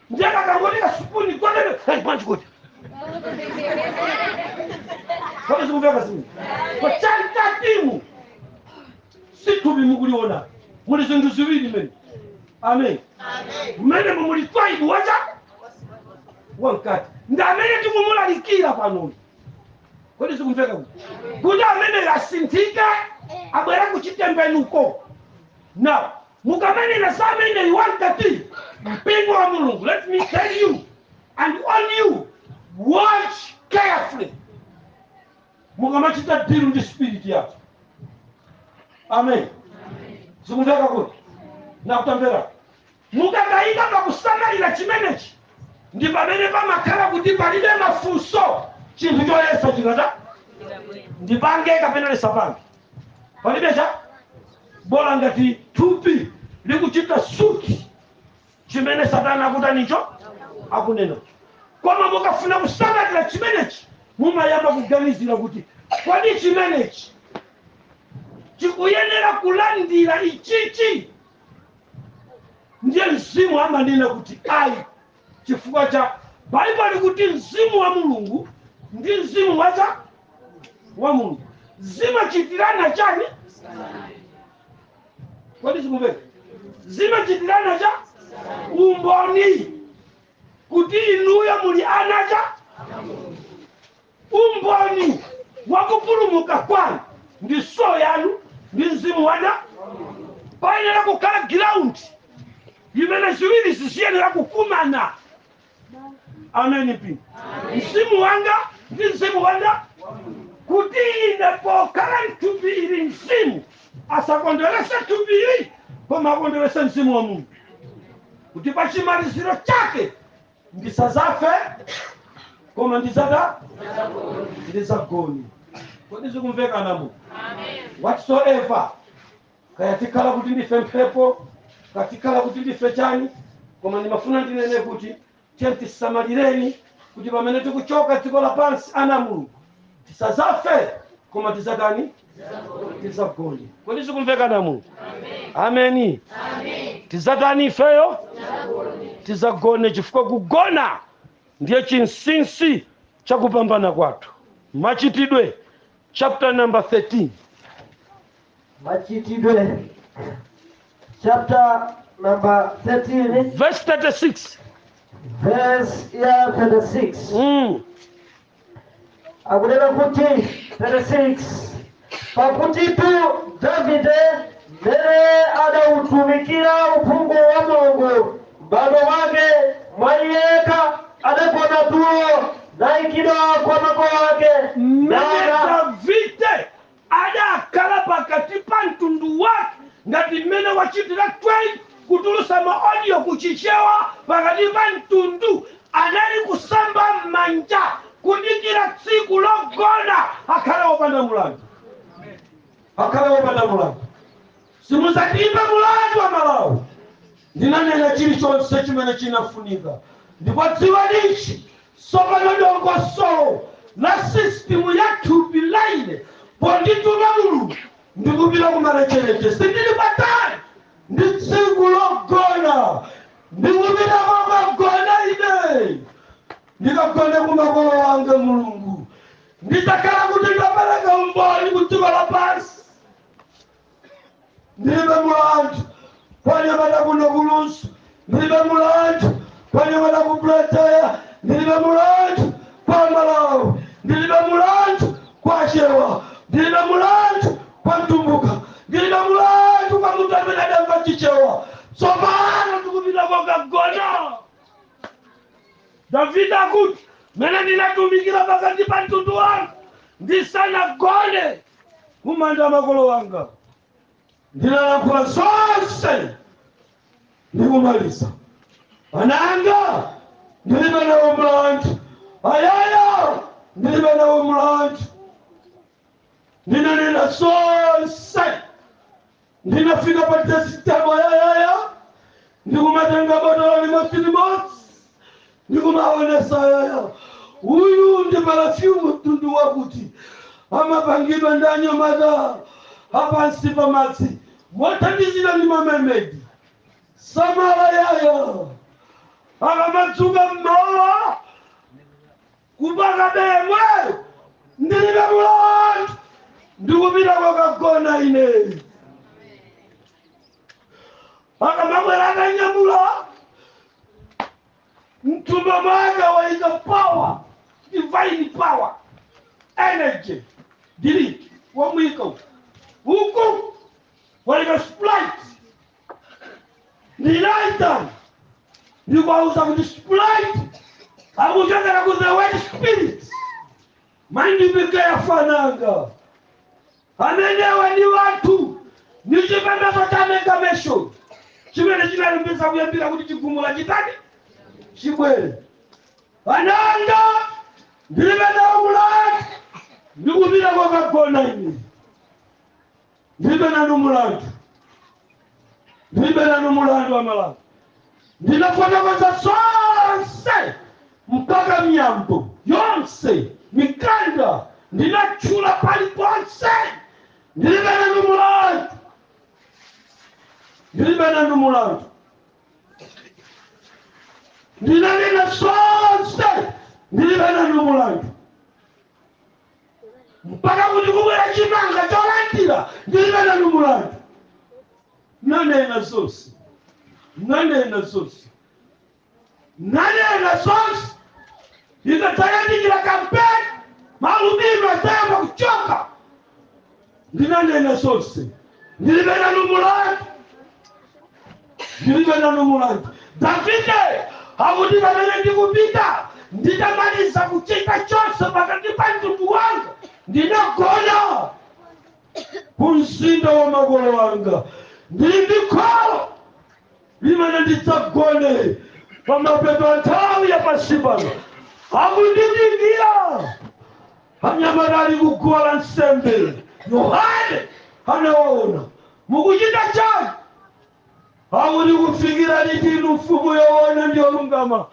ndiye kakangoteka sipuni kwatebe hey, manje kuti kodi zikumveka simu kwa chali tatimu si thupi mukuliona muli zinthu ziwiri mmene amen mmene muli thupi kunja wamkati ndi amene tikumulalikira panoyu kodi zikumveka kuti kuti ameneyu asinthike abwere kuchitembenuko now mukamanena za ameneyu wamkati mpingo wa mulungu let me tell you and warn you watch carefully mukamachita deal ndi spirit yako amen zikumveka kuti now tamverani Mukakanika kusamalira chimenechi, ndi pamene pamakhala kuti palibe mafunso, chinthu chonse chikati ndipange kapena ndisapange, palibe cha bola ngati thupi likuchita suit chimene satana akutani cho akunena. Koma mukafuna kusamalira chimenechi, mumayamba kuganizira kuti kodi chimenechi chikuyenera kulandira ichichi ndiye mzimu amanena kuti ayi chifukwa cha baibulo likuti mzimu wa mulungu ndi mzimu wathu wa mulungu zimachitirana chani kodi zikumveka zimachitirana cha umboni kuti inuyo muli ana cha umboni wa kupulumuka kwanu ndi soul yanu ndi mzimu wanu payenera kukhala ground imene ziwirizi zisiyenera kukumana ameni thupi mzimu wanga ndi mzimu wanga kuti ine pokhala mthupi ili mzimu asakondwerese thupi ili koma akondwerese mzimu wa mulungu kuti pa chimaliziro chake ndisazafe koma ndizatani ndizagoni kodi zikumveka ana amu whatsoever kaya tikhala kuti ndife mphepo kaya tikhala kuti ndife chani koma ndimafuna ndinene kuti tiyeni tisamalireni kuti pamene tikuchoka dziko lapansi ana a mulungu tisazafe koma tizatani tizagone kodi zikumveka ana amulungu ameni tizatani ifeyo tizagone chifukwa kugona ndiye chinsinsi cha kupambana kwathu machitidwe chapter number 13 machitidwe chapter number 13 verse 36 verse ya 36 mm. akunena kuti 36 pakutitu davide mmene adautumikira uphungu wa mulungu m'bado wake mwa iyekha adagona tulo naikidwa kwa makolo ake mmene nana davide Adakhala pakati pa mtundu wake ngati mmene wachitira Twain kutulutsa ma audio ku Chichewa pakati pa mtundu. Anali kusamba m'manja kudikira tsiku logona. Akhale wopanda mulandu. Akhale wopanda mulandu. Simudzandiimba mlandu Amalawi. Ndinanena chilichonse chimene chinafunika. Ndipo dziwani ichi, tsopano dongosolo la sisitimu ya thupi la ine pondituma Mulungu ndikupita kumalecheleche. Sindili patali ndi tsiku logona. Ndikupita kokagona ine. Ndikagone ku makolo anga. Mulungu. Ndidzakhala kuti ndapereka umboni ku dziko lapansi. ndilibe mulandu kwa anyamata kuno ku Lunzu ndilibe mulandu kwa anyamata ku Blantyre ndilibe mulandu kwa amalawi ndilibe mulandu kwa achewa ndilibe mulandu kwa mtumbuka ndilibe mulandu kwa munthu amene adzamva chichewa tsopano tikupita kokagona davide akuti mmene ndinatumikira pakati pa mtundu wanga ndisanagone mumanda a makolo wanga ndinalankhula zonse ndikumaliza ana anga ndilibe nawo mlandu ayaya ndilibe nawo mlandu ndinanena zonse Ndinafika pa stage ayayaya ndikumatenga botolo limodzi limodzi ndikumaonetsa ayaya uyu ndi perfume mtundu wakuti amapangidwa ndi anyamata apansi pa madzi mothandizidwa ndi mamemedi samala ayaya akamadzuka mmawa Mpakabe yemweyo ndilibe mulandu ndikupita kokagona ine akamabwera akanyamula mthumba mwake waika power divine power energy drink wamwika uku waika sprite ndinaitana ndikuwauza kuti sprite ikuchokera ku the word spirit maindipike yafananga amenewa ndi wathu ndi chipembedzo cha amalgamation chimene chinalimbisa kuyambira kuti chigumula chisati chibwere ananga ndilibe nawo mulandu ndikupita kokagona ine Ndilibe nanu mulandu, ndilibe nanu mulandu aMalawi. Ndinafotokoza zonse mpaka miyambo yonse mikanda ndinatchula paliponse. Ndilibe nanu mulandu, ndilibe nanu mulandu. Ndinanena zonse, ndilibe nanu mulandu. mpaka kuti kubwera chimanga cholandira ndilibe nanu mulandu nanena zonse nanena zonse nanena zonse ikadzayandikira kampeni maalubino adzayamba kuchoka ndinanena zonse ndilibe nanu mulandu ndilibe nanu mulandu davide akuti pamene ndikupita nditamaliza kuchita chonse pakati pa mtundu wanga ndinagona ku mzinda wa makolo anga ndili ndi kholo limene ndidzagone pamapeto a nthawi ya pansi pano akundidikira Anyamata ali ku guwa la nsembe, Yohane anawaona. Mukuchita chani? Akuti kufikira liti inu mfumu yoona ndi yolungama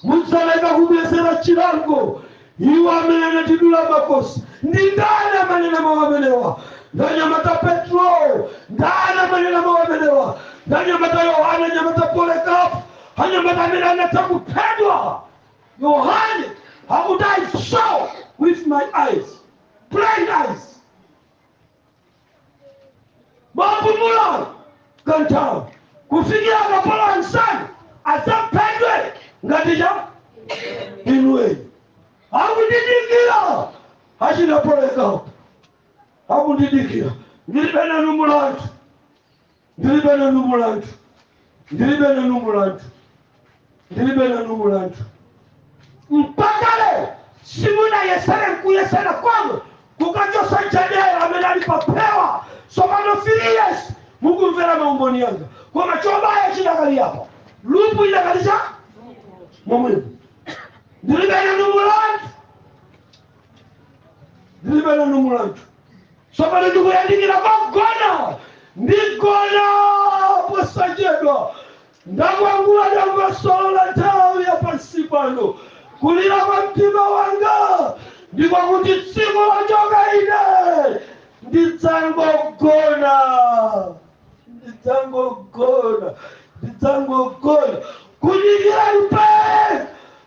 mudzaleka kubwezera chilango awo amene anatidula makosi? Ndi ndani amanena mawu amenewa? Ndanyamata Petro. Ndani amanena mawu amenewa? Ndanyamata Yohane, anyamata Polekapu, anyamata amene anatha kuphedwa. Yohane akuti I saw with my eyes, blind eyes. Bapumulani kanthawi kufikira akapolo anzanu adzaphedwe ngati tcha inu eni akundidikira achina Polekapu akundidikira ndilibe nanu mulandu Ndilibe nanu mulandu, ndilibe nanu mulandu, ndilibe nanu mulandu. Mpaka lero simunayesere nkuyesera komwe kukachotsa jadera amene ali pa phewa tsopano 3 years mukumvera maumboni anga koma chobaya chidakali apo lupu idakali cha momwemo ndilibe nanu mulandu ndilibe nanu mulandu Tsopano ndikuyandikira pogona. Ndigona posachedwa. Ndakwangula dongosolo la nthawi ya pansi pano. Kulira kwa mtima wanga ndi kwakuti tsiku lochoka ine ndidzangogona, ndidzangogona, ndidzangogona. Kudikira ipe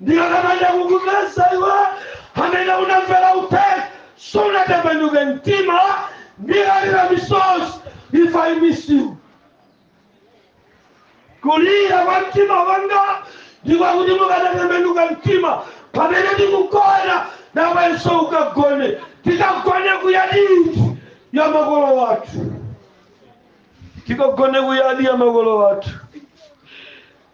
ndikakamanda kukupeza iwe amene unamvera uthenga sunatembenuke mtima ndidzalira misozi if i miss you kulira kwa mtima wanga ndi kwakuti mukanatembenuka mtima pamene ndikugona nawenso ukagone tikagone kuyaditi ya makolo wathu tikagone kuyadi ya makolo wathu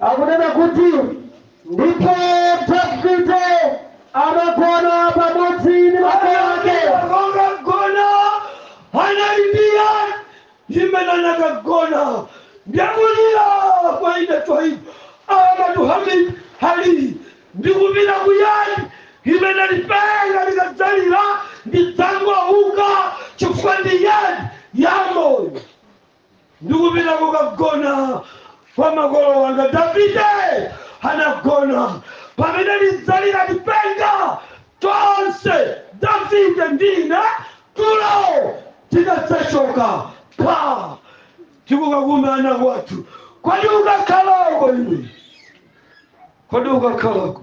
akunena kuti ndipo davide anagona pamodzi ndi makolo ake akagona anali pa yadi imene anakagona ndikulira kwa ine twaibu akatu hamid hali ndikupita ku yadi imene lipenga likadzalira ndidzangouka chifukwa ndi yadi yamoyo ndikupita kukagona kwa makolo wanga davide anagona pamene lidzalira lipenga tonse davide ndi ine tulo tidadzachoka pa tikukakumana kwathu kodi ukakhalako iwe kodi ukakhalako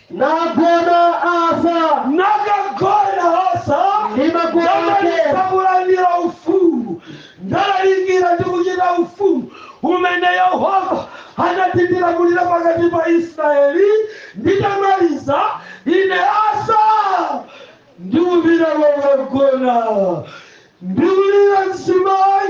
nagona asa nakagona asa ndi makolo ake ndamaliza kulandira ufumu ndalalikira ndi kuchita ufumu umene yehova anatilamulira pakati pa israeli nditamaliza ine asa ndikupita kokagona ndikulira mzimayi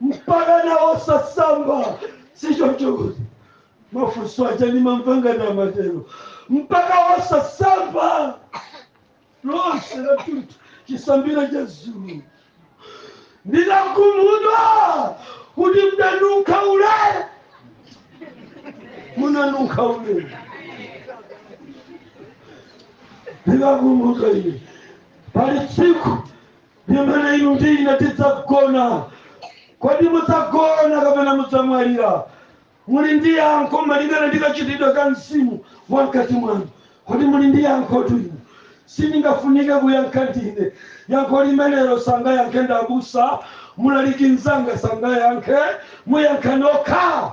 mpakana osasamba sichocho mafunso aja nimamva angana amatero mpaka osasamba lonse lathunthu chisambire cha dzulo ndinakhumudwa kuti mdanunkha ule munanunkha ule ndinakhumudwa ine pali tsiku Limene inu ndi ine tidzagona. Kodi mudzagona kapena mudzamwalira? Muli ndi yankho malingana ndi kachitidwe ka mzimu wa mkati mwanu. Kodi muli ndi yankhotu inu? Sindingafunike kuyankha ndine. Yankho limenelo sangayankhe ndabusa, mlaliki mnzanga sangayankhe, muyankha nokha.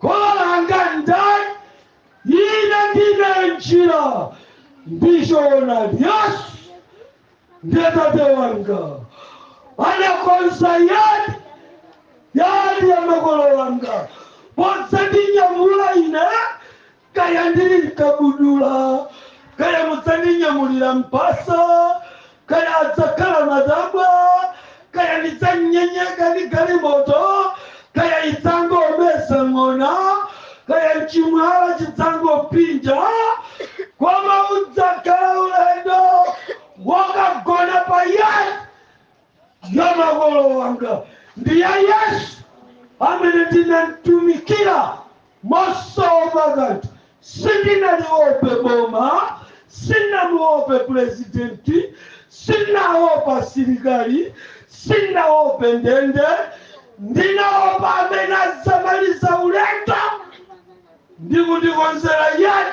Kholo langa ndani? Ine ndine njira ndi choonadi. Yesu ndiye tate wanga, anakonza yadi yadi ya makolo wanga podzandinyamula ine Kaya ndili mkabudula, kaya mudzandinyamulira mphasa, kaya adzakhala matabwa, kaya ndidzanyenyeka ndi galimoto, kaya idzangomeza ng'ona, kaya nchimwala chidzangopsinja, koma udzakhala ulendo wokagona pa yadi ya makolo wanga ndi ya yesu amene ndinamtumikira mosaopa kanthu sindinadyeope boma sinamuope purezidenti sinaopa asilikali sinaope ndende ndinaopa amene adzamaliza ulendo ndi kundikonzera yake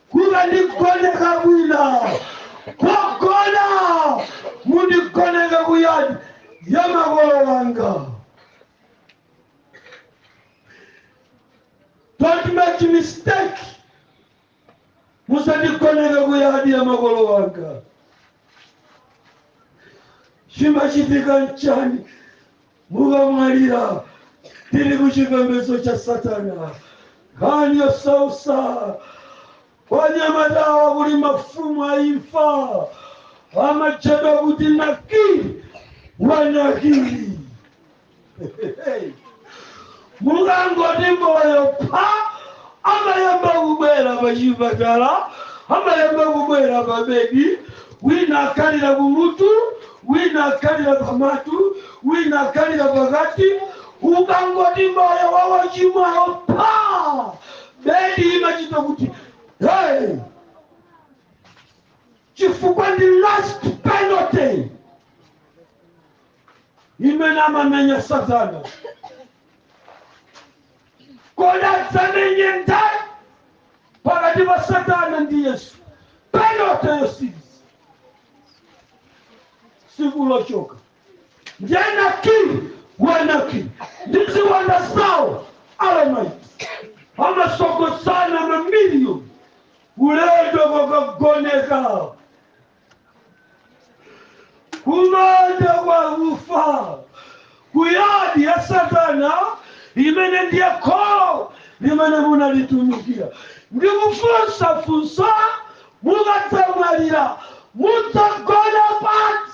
Mukandigoneka kwina kogona, mundigoneke ku yard ya makolo wanga. Don't make mistake. Musandigoneke ku yard ya makolo wanga. Chimachitika nchani? mukamwalira tili ku chipembedzo cha satana nkhani yosautsa anyamatawa kuli mafumu a imfa amatchedwa kuti Nakiri wa Nakiri Mukangoti moyo pha, amayamba kubwera pachipatala, amayamba kubwera pabedi, wina akhalira kumutu, wina akhalira pamutu, wina akhalira pakati. Ukangoti moyo wa wochimwawo pha, bedi imachita kuti hey! chifukwa ndi last penalty imene amamenya satana kodi adzamenya ndani pakati pa satana ndi yesu penote yotsiriza tsiku lochoka Nakiri wa Nakiri ndi ziwanda zawo alamaiti amatsogozana mamiliyoni ulendo wokagoneka kumanda wakufa kuyadi ya satana amene ndiye kholo limene munalitumikira ndikufunsa funso mukadzamwalira mudzagona pati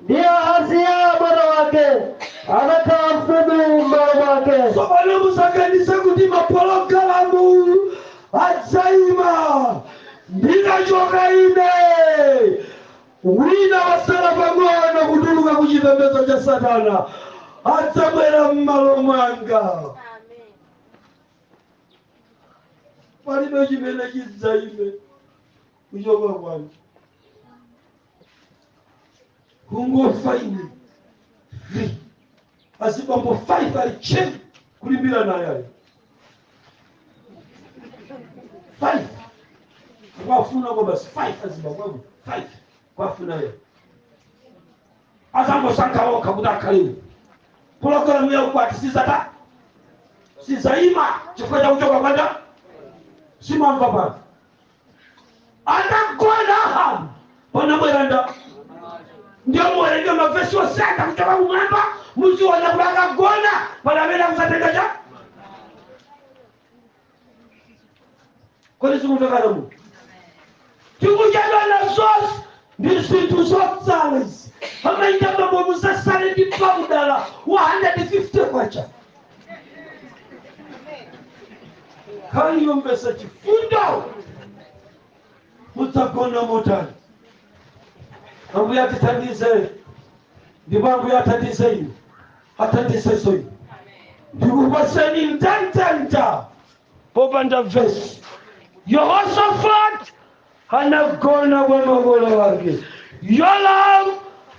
Ndiye Ahaziya mwana wake anakhala mfumu m'malo mwake. tsopano musaganize kuti mapologalamu adzaima ndinachoka ine wina wasala pang'ono kutuluka ku chipembedzo cha satana adzabwera m'malo mwanga Amen. palibe chimene chidzaime kuchoka kwanu umve ine azibambo 5 akulimbirana ali 5 kwafuna basi 5 azibambo abo 5 kwafuna azangosankha okha kuti akhale pologalamu ya ukwati sizatha sizaima chifukwa cha kuchoka kwanja simamva pano adagona ahabu panabwera ndani ndiye muwerenge mavesi onse akuchoka kumwamba muziona kuti akagona pali amene akusatenga cha kodi sikumvekana mu tikuchedwa na zonse ndi zinthu zotsala izi amaika mabomu zasale ndi paudala wa 150 kwacha kayombetsa chifundo mudzagona motani ambuye atithandize ndipo ambuye athandize inu athandizeso inu ndikupaseni ntheta popanda vesi. Yehosafati anagona kwa makolo ake. Yoramu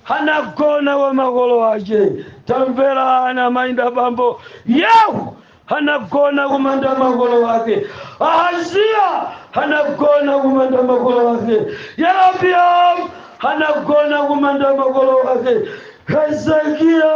anagona kwa makolo ake. Tamverani amayi ndi abambo. Yehu anagona kumanda makolo ake. Ahaziya anagona kumanda makolo ake. Yerobiamu anagona kumanda makolo ake. Hezekiya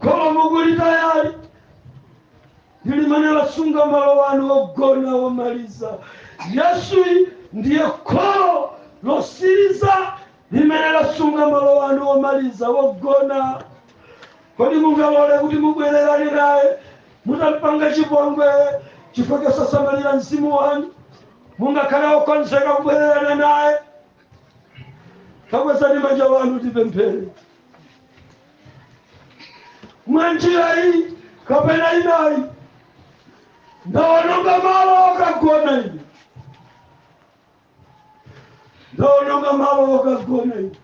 koma mukulitayalo ndi limene lasunga malo wanu ogona womaliza yesuyi ndiye kholo losiriza limene lasunga malo wanu womaliza wogona kodi mungalole kuti mubwererane naye mutampange chipongwe chifukwa chosasamalira mzimu wanu mungakhale okonzeka kubwererana naye takwezani manja anu tipemphere mwa njira iyi kapena inayi ndawononga malo okagona ine ndaononga malo okagona ine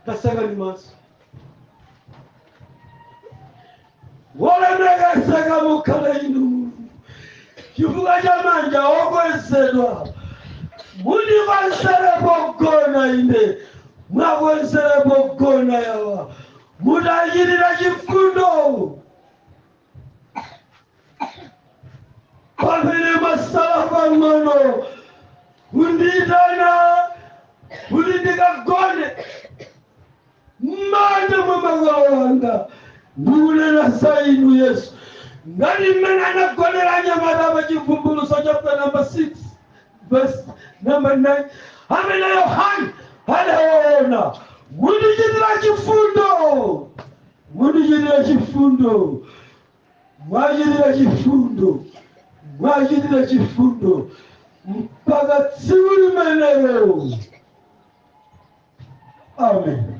kasamani maso wolemekezeka mukhale inu mulungu chifukwa cha manja okwezedwa mutikonzere pogona ine muwakonzere pogona awa mutichitire chifundo pamene mwatsala pang'ono kundiyitana kuti ndikagone mmanja mwa makolo anga ndikunena za inu yesu ngati mmene anagonera anyamata pa chivumbuluso chapta namba 6 verse namba 9 amene yohani adaona kutichitira chifundo Mundichitire chifundo, muwachitire chifundo, muwachitire chifundo, mpaka tsiku limenelo. Amen.